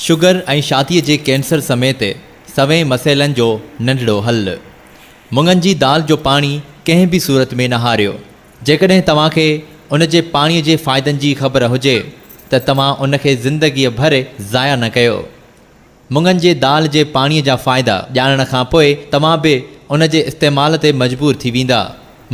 Sugar ۽ شاديء جي cancer سميت سوين مسئلن جو ننڍڙو حل. مڱن جي دال جو پاڻي ڪنهن به صورت ۾ نه هاريو. جيڪڏهن توهان کي ان جي پاڻي جي فائدن جي خبر هجي ته توهان ان کي زندگيء ڀر ضايع نه ڪيو. مڱن جي دال جي پاڻيء جا فائدا ڄاڻڻ کان پوء توهان به ان جي استعمال تي مجبور ٿي ويندا.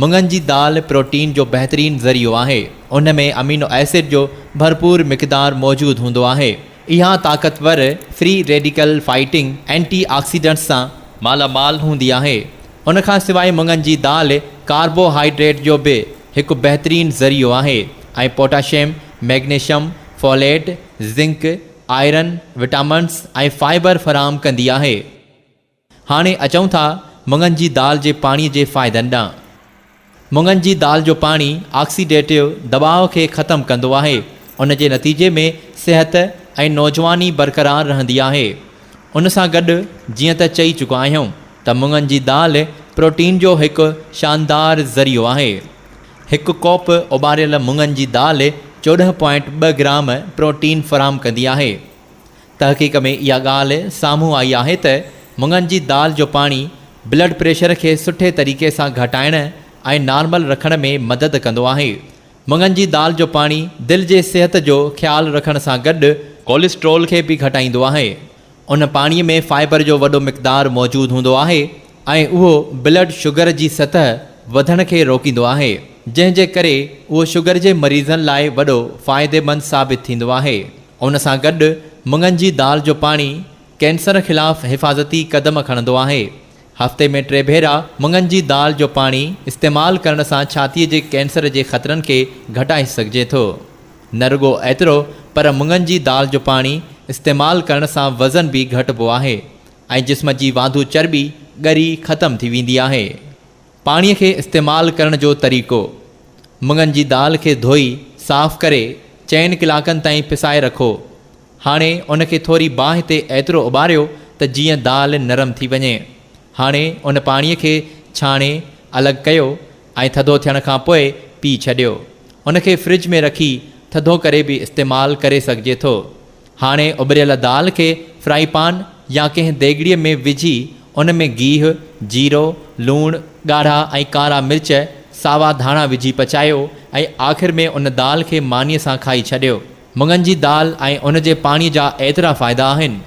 مڱن جي دال پروٽين جو بهترين ذريعو آهي. ان ۾ امينو ايسڊ جو ڀرپور مقدار موجود هوندو آهي. اها طاقتور free radical fighting antioxidants سان مالا مال هوندي آهي. ان کان سواء مڱن جي دال ڪاربو هائيڊريٽ جو به هڪ بهترين ذريعو آهي ۽ potassium, magnesium, folate, zinc, iron, vitamins ۽ fibre فراهم ڪندي آهي. هاڻي اچون ٿا مڱن جي دال جي پاڻي جي فائدن ڏانهن. مڱن جي دال جو پاڻي آڪسيڊيٽو دٻاء کي ختم ڪندو آهي، ان جي نتيجي ۾ صحت ۽ نوجواني برقرار رهندي آهي. ان سان گڏ جيئن ته چئي چڪا آهيون ته مڱن جي دال پروٽين جو هڪ شاندار ذريعو آهي. هڪ ڪوپ اٻاريل مڱن جي دال چوڏهن پوائنٽ ٻه گرام پروٽين فراهم ڪندي آهي. تحقيق ۾ اها ڳالهه سامهون آئي آهي ته مڱن جي دال جو پاڻي بلڊ پريشر کي سٺي طريقي سان گهٽائڻ ۽ نارمل رکڻ ۾ مدد ڪندو آهي. مڱن جي دال جو پاڻي دل جي صحت جو خيال رکڻ سان گڏ ڪوليسٽرول کي به گهٽائيندو آهي. ان پاڻي ۾ فائبر جو وڏو مقدار موجود هوندو آهي ۽ اهو بلڊ شگر جي سطح وڌڻ کي روڪيندو آهي جنهن جي ڪري اهو شگر جي مريضن لاء وڏو فائديمند ثابت ٿيندو آهي. ان سان گڏ مڱن جي دال جو پاڻي ڪينسر خلاف حفاظتي قدم کڻندو آهي. هفتي ۾ ٽي ڀيرا مڱن جي دال جو پاڻي استعمال ڪرڻ سان ڇاتيء جي ڪينسر جي خطرن کي گهٽائي سگهجي ٿو. نه رڳو ايترو پر مڱن جي دال جو پاڻي استعمال ڪرڻ سان وزن به گهٽبو آهي ۽ جسم جي واڌو چرٻي ڳري ختم ٿي ويندي آهي. پاڻي کي استعمال ڪرڻ جو طريقو، مڱن جي دال کي ڌوئي صاف ڪري چئن ڪلاڪن تائين پسائي رکو. هاڻي ان کي ٿوري باهه تي ايترو اٻاريو ته جيئن دال نرم ٿي وڃي. هاڻي ان پاڻي کي ڇاڻي الڳ ڪيو ۽ ٿڌو ٿيڻ کان پوء پي ڇڏيو. ان کي فرج ۾ رکي ٿڌو ڪري به استعمال ڪري سگهجي ٿو. هاڻي اٻريل دال کي فرائي پان يا ڪنهن ديڳڙي ۾ وجهي ان ۾ گيهه، جيرو، لوڻ، ڳاڙها ۽ ڪارا مرچ، ساوا ڌاڻا وجهي پچايو ۽ آخر ۾ ان دال کي مانيء سان کائي ڇڏيو. مڱن جي دال ۽ ان جي پاڻي جا ايترا فائدا آهن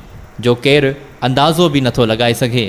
جو ڪير اندازو به نٿو لڳائي سگهي.